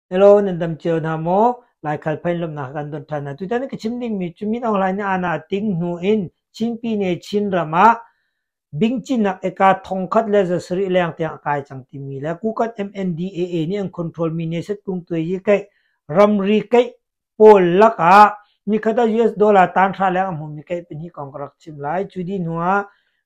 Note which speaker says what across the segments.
Speaker 1: Hello, nan dam cio hna maw? Laikhal phain lawmhnak kan ton ṭhan hna. Tutan na ka chim dingmi cu Min Aung Hlaing nih aana ting hnu in Chinpi ne Chin ram ah bingcinnak eka thongkhat le zasarih leng tiang a kai cang timi le Kukat MNDAA nih an control mi nesat kung tuai hi kaih ramri kaih Paul lakah nikhat ah US dollar tanhra leng a hmumi kei pahnih kong ka rak chim lai. Cu dih hnuah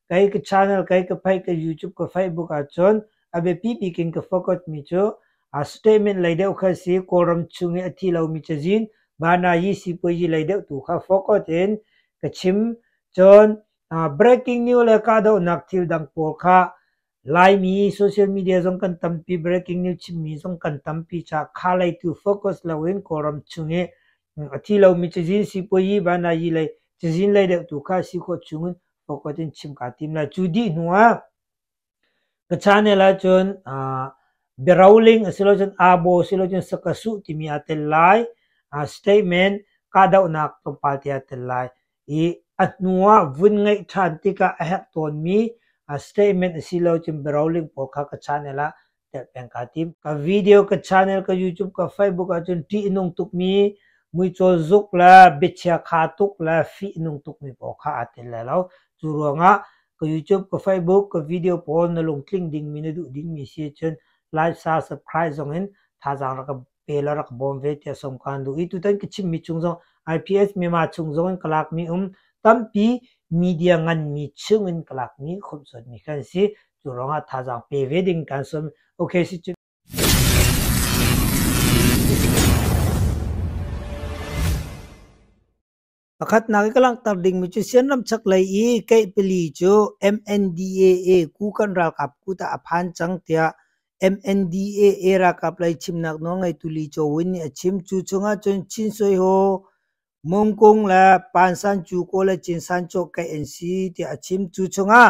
Speaker 1: kei ka channel, kei ka phei, ka YouTube, ka Facebook ahcun a biapi bik in ka focus mi cu a statement lei deuh kha si Kawlram chung i a thi lomi cazin Banayi sipuazi lei deuh tu kha focus in ka chim. Cun breaking news le kahdohnak thil dang pawl kha Laimi social media zong kan tampi, breaking news chimmi zong kan tampi caah kha lei tu focus loin Kawlram chung i a thi lomi cazin sipuayi, vanayi lei cazin lei deuh tu kha si khawh chungin focus in chim kaa tim lai. Cu dih hnuah ka channel ahcun uh, biaroling asilocun abo asilocun sakasuh timi aa tel lai. Uh, statement kahdohnak tlawmpal te aa tel lai. i a hnu ah vun ngeih ṭhan tikah a herh tawnmi statement a si lo cun biaro link pawl kha ka channel ah telh peng kaa tim. Ka video ka channel ka YouTube ka Facebook ahcun ṭih nung tukmi muicaw zuk le biachia kha tuk le fih nung tukmi pawl kha aa tel lai lo. Cu ruangah ka YouTube, ka Facebook, ka video pawl na lungtling dingmi na duh dingmi si ahcun like, share, subscribe zong in thazaang rak ka pel a rak bawm ve tiah sawm kaan duh i tutan ka chimmi chung zong IPS Myanmar chung zong in ka lakmi um tampi media nganmi chung in ka lakmi khomhsuatmi kan si cu ruangah thazaang pe ve ding kan sawm okay si cu Pakhatnak i ka langhter dingmi cu Sianram chaklei i keih pali cu MNDAA ku kan ralkap kut ah a phan cang tiah MNDAA ralkap lei chimnak nawlngeitu Lee Cho Win nih a chim. Cu chungah cun Chin Soi Ho, Mung Kung le Pan San Kyaw Kaw le Chin San Chaw keih an si tiah a chim. Cu chungah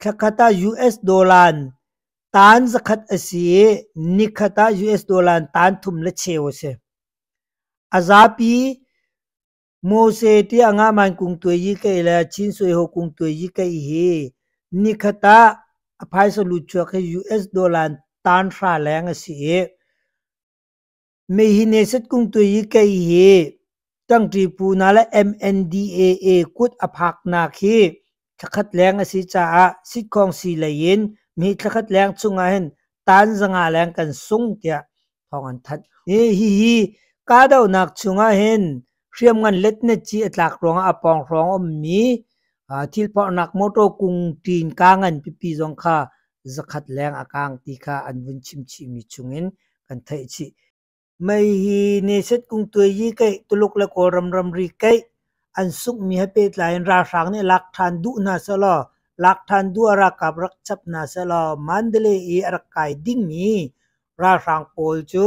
Speaker 1: Thlakhat ah US dollar in taan zakhat a si i nikhat ah US dollar in taan thum le cheu a si. A zapi Mose tiah ngaman kung tuai yi kei le Chin sui ho kung tuai yi kei hi nikhat ah a phaisa lut chuak hi US dollar in taan hra leng a si i Mei hi nesat kung tui i kei hi ṭangṭi pu na le MNDAA kut a phaknak hi thlakhat leng a si caah sitkhawng si lei in mi thlakhat leng chungah hin taan zanga leng kan sung tiah thawng an thanh. Hihi kahdohnak chungah hin hriamngan letnet ci a tlak ruangah a pawng hrawng a ummi thil phorhnak motor kung ṭin kaa ngan pipi zong kha zakhat leng a kaang ti kha an vun chimchihmi chungin kan theih chih. Mei hi neset kung tuai yi keih Tuluk le Kawlram ramri keih an sungmi he pehtlai in ralhrang nih lak ṭhan duh hna selaw lak ṭhan duh a ralkap rak chap hna selaw Mandalay i a rak kai dingmi ralhrang pawl cu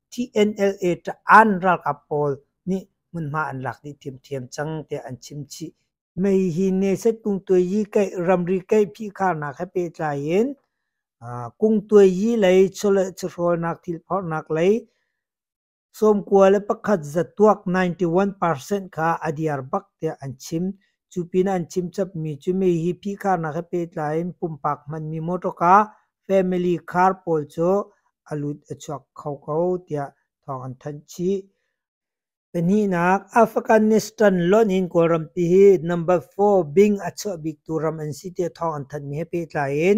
Speaker 1: TNLA taan ralkap pawl nih hmunhma an lak dih thiamthiam cang tiah an chim chih. Mei hi neset kungtuai yi kaih ramri kaih phihkharnak he pehtlai in kungtuai yi lei chawleh chawhrawlnak thilphorhnak lei sawmkua le pakhat zat tuak 91% kha a diar bak tiah an chim. Cu pin an chim chapmi cu mei hi phihkharnak he pehtlai in pumpak hmanmi motor car family car pawl cu a lut a chuak kho ko tiah thawng an thanh chih. Pahnihnak, Afghanistan lonh in Kawlrampi hi number four bing a chuah biktu ram an si tiah thawng an thanh mi he pehtlai in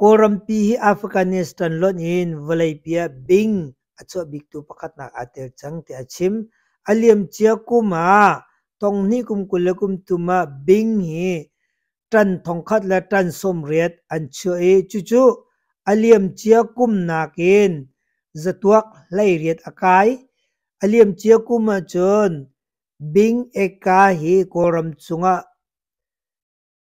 Speaker 1: Kawlrampi hi Afghanistan lonh in vawleipi ah bing a chuah biktu pakhatnak aa tel cang tiah a chim. A liamcia kum ah tonghnih kum kul le kum thum ah bing hi tan thongkhat le tan sawmriat an chuah i cucu a liamcia kum nakin zatuak hleiriat a kai. A liamcia kum ahcun Bing Eka hi Kawlram cungah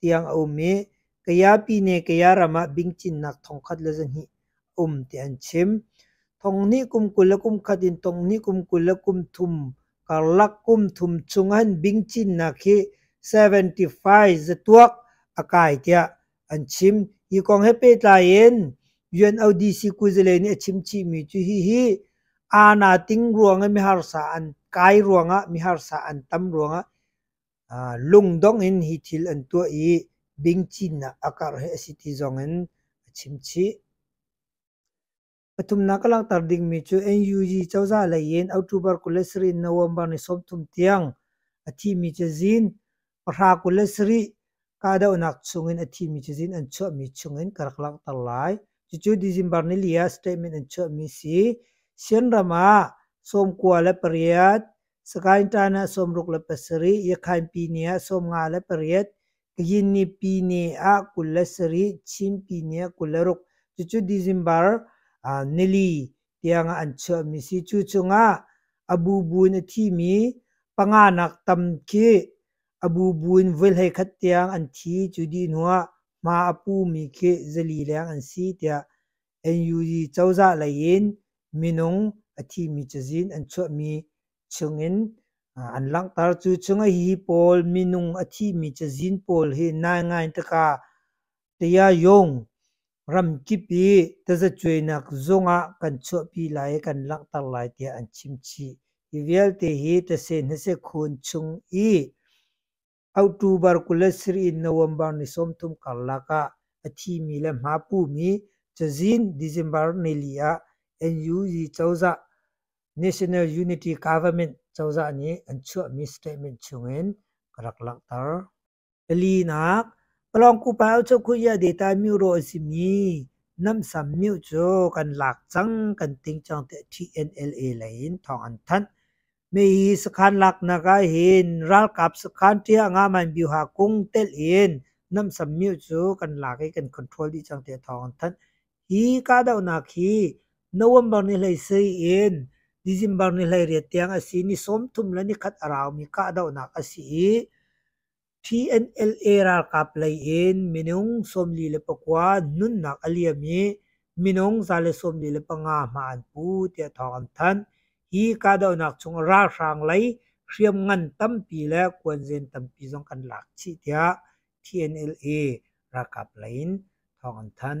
Speaker 1: tiang a um i Kayapi ne Kaya ram ah bingcinnak thongkhat le zahnih um ti an chim. Thong hnih kum kul le kum khat in thong hnih kum kul le kum thum karlak kum thum chung an bingcinnak hi 75 zatuak a kai tiah an chim. Hi kong he pehtlai in UNODC Kuzile nih a chimchihmi cu hihi aa na ting ruang i miharsa an kai ruangah miharsa an tam ruangah Lungdong in hi thil an tuah i bingcinnak a karh hi a si ti zongin a chim chih. Pathumnak ka langhter dingmi cu NUG cozah lei in October kul le sarih November ni sawmthum tiang a thimi cu zin pahra kul le sarih kahdohnak chungin a thimi cu zin an chuahmi chungin ka rak langhter lai. Cucu December ni li ah statement an chuahmi si. Chin ram ah sawmkua le pariat Sagaing ṭan ah sawmruk le pasarih, Yakhain pi ni ah sawmnga le pariat, Kayinni pi ni ah kul le sarih, Chin pi ni ah kul le ruk. Cucu December uh, nili tiang ah an chuahmi si. Cu chungah abu buin a thimi panganak tam khi abu buin voihlei khat tiang an thi. Cu dih hnuah hma a pumi khi zali leng an si tiah NUG cozah lei in minung a thimi cazin an chuahmi chungin an langhter. Cu chung hi pawl minung a thimi cazin pawl hi nai ngai tikah Taya Yong ramkip i tazacuainak zungah kan chuahpi lai i kan langhter lai tiah an chim chih. Hi vialte hi tase hnase khun chung i October kul le sarih in November ni sawmthum karlak ah a thimi le hma pumi cazin December nili ah NUG cozah National Unity Government cozah nih an chuahmi statement chungin ka rak langhter. Palinak Palawngkupa Ochokhuya Data Miro a simi Namsam Myo cu kan lak cang kan ting cang tiah TNLA lei in thawng an thanh. Mei sakhan laknak ah hin ralkap sakhan ṭia nga man bioha kung telh in namsam myu cu kan lak i kan control dih cang tiah thawng an thanh. Hi kahdohnak hi November ni hlei si in December ni hlei riat tiang a si. Ni sawm thum le ni khat a raumi kahdohnak a si i TNLA ralkap lei in minung sawmli le pakua nunnak a liam i minung za le sawmli le panga hma an pu tiah thawng an thanh. Hi kahdohnak chung ralhrang lei hriamngan tampi le kuanzen tampi zong kan lak chih tiah TNLA ralkap lei in thawng an thanh.